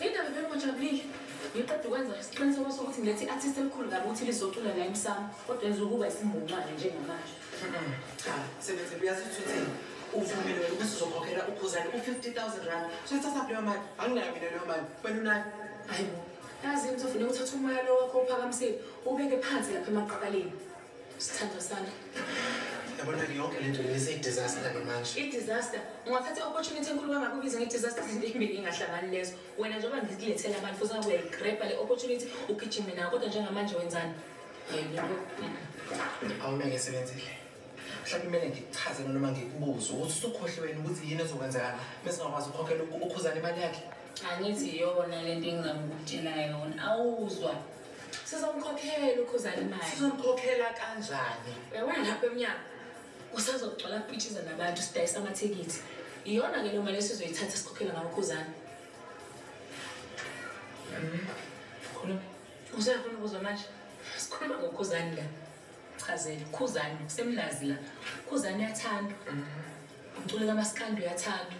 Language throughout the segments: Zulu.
Indaba vele ngojabulile. Ngiqeda ukwenza isiqiniseko sokuthi ngilethe i-artist elikhulu kabi ukuthi lizocula la emsamo kodwa yenza ukuba isimbungcwane njengamanje. Cha, sebenze uyazi ukuthi uthini. Uvumile wena ukuthi uzokhokhela ukhuzane u-50,000 rand. Soyithatha kuleyo mali. Anginayo mina leyo mali. Wena unayo? Hayi bo. Yazi into ufuna ukuthatha umoya lo wakho uphakamisile ubeke phansi lapha emaqakaleni. Sithandwa sami. Yabona ke yonke lento ngise disaster ke manje. I disaster. Ungathatha opportunity enkulu kangaka ubize nge disaster izinto ezimbili ingahlangani lezo. Wena njengoba ngikulethela abantu futhi ngabe uyayigrabha le opportunity ugijime nayo kodwa njengamanje wenzani? Awume ngesebenzile. Mhlawumbe kumele ngikuchaze noma ngikubuze ukuthi usukhohle wena ukuthi yini ezokwenzeka bese ngakwazi ukukhokhela ukhuzana imali yakhe. Angithi yona lento engingamukutshela yona. Awuzwa. sizomkhokhela ukhuzana imali sizomkhokhela kanjani uyabona lapho emnyango kusazogcwala kupitshiza nabantu sidayisa amathikithi iyona ke loo mali esizoyithatha sikhokhela ngawo ukhuzana khuluma usefuna ukuzwa manje sikhuluma ngokhuzani la chazele khuzani kusemnazi la khuzani uyathandwa umculo kamasikandi uyathandwa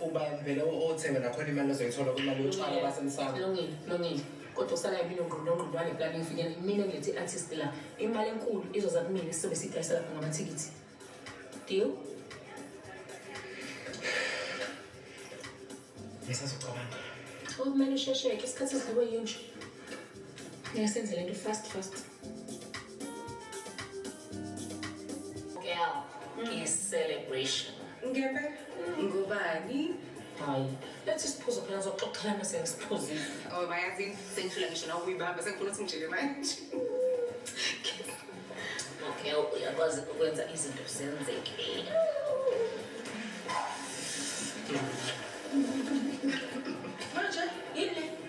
uba vele othenga nakhona imali ozoyithola kwimali yotshwala basemsamo lungile lungile kodwa usala yimina ongqondongqondwane kulani ngifikela mina ngilethi i-artist la imali enkulu izoza kumina sizobe sidayisa lapha ngamathikithi deal ngisazocabanga okumele ushesheke isikhathi sidliwe yinje ngiyasenze le nto fast fast Girl, mm. celebration. Ngebe ngubani? Hayi, let's isiphuzo phela sokuxoxelana sengisiphuzile. Oh, bayazi sengifuna ngisho na ukuyibamba sengifuna ukuthi ngijike manje. Okay, uyakwazi ukwenza izinto zenzeke.